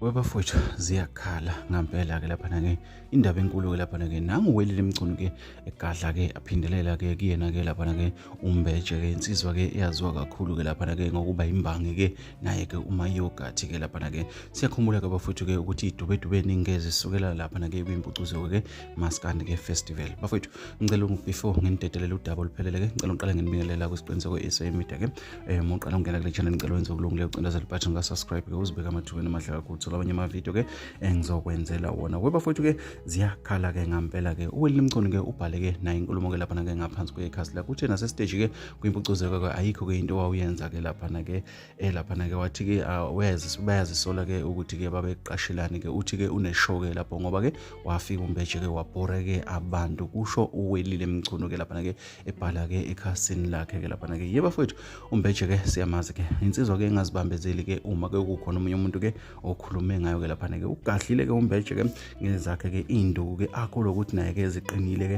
webafowethu ziyakhala ngampela-ke laphana-ke indaba enkulu-ke laphana-ke nanguwelile emgcunu-ke egadla-ke aphindelela-ke kuyena-ke laphana-ke umbetshe-ke insizwa-ke eyaziwa kakhulu-ke laphana-ke ngokuba yimbangi-ke naye-ke umayogathi-ke laphana-ke siyakhumbula-ke bafowethu-ke ukuthi idubedube ningi-ke zisukela laphana-ke kwimpucuzo-ke maskandi ke festival bafowethu ngicela before nginidedelele udaba oluphelele ke ngicela ngiqale nginibingelela kwisiqiniseko e-sa media ke um uqala ukungena kule channel ngicela wenze ukulungileyo ucindezela ibhathi ngasubscribe ke uzibeke amathubeni amahle kakhulu thola abanye amavidiyo ke engizokwenzela wona we bafowethu ke ziyakhala ke ngampela ke uwelile mcondo ke ubhale ke naye inkulumo ke laphana ke ngaphansi kwekhasi lakho uthe nasesiteji ke kwimpucuzeko ke ayikho ke into wawuyenza ke laphana ke eh laphana ke wathi ke ah, uyazi bayazisola ke ukuthi ke babeqashelani ke uthi ke uneshoke lapho ngoba ke wafika umbeje ke wabhore ke abantu kusho uwelile mchunu ke laphana ke ebhala ke ekhasini lakhe ke laphana ke yebo bafowethu umbeje ke siyamazi ke insizwa ke engazibambezeli ke uma ke kukhona omunye umuntu ke okhulume ngayo ke laphana ke ugadlile ke umbeje ke ngezakhe ke induku ke akho lokuthi naye ke ziqinile ke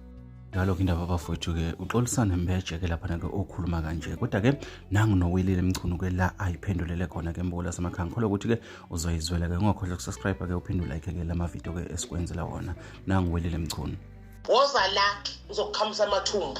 ngaloku indaba bafowethu-ke uxolisane mbeje-ke laphana-ke okhuluma kanje kodwa-ke nangu nowilile mchunu-ke la ayiphendulele khona-ke mbuko lasemakhaya ngikholwa ukuthi-ke uzoyizwela-ke ungakhohlwa ukusubscribe-ke uphinde ulike-ke la mavidiyo-ke esikwenzela wona nangu welile mchunu woza la uzokuqhamusa amathumbu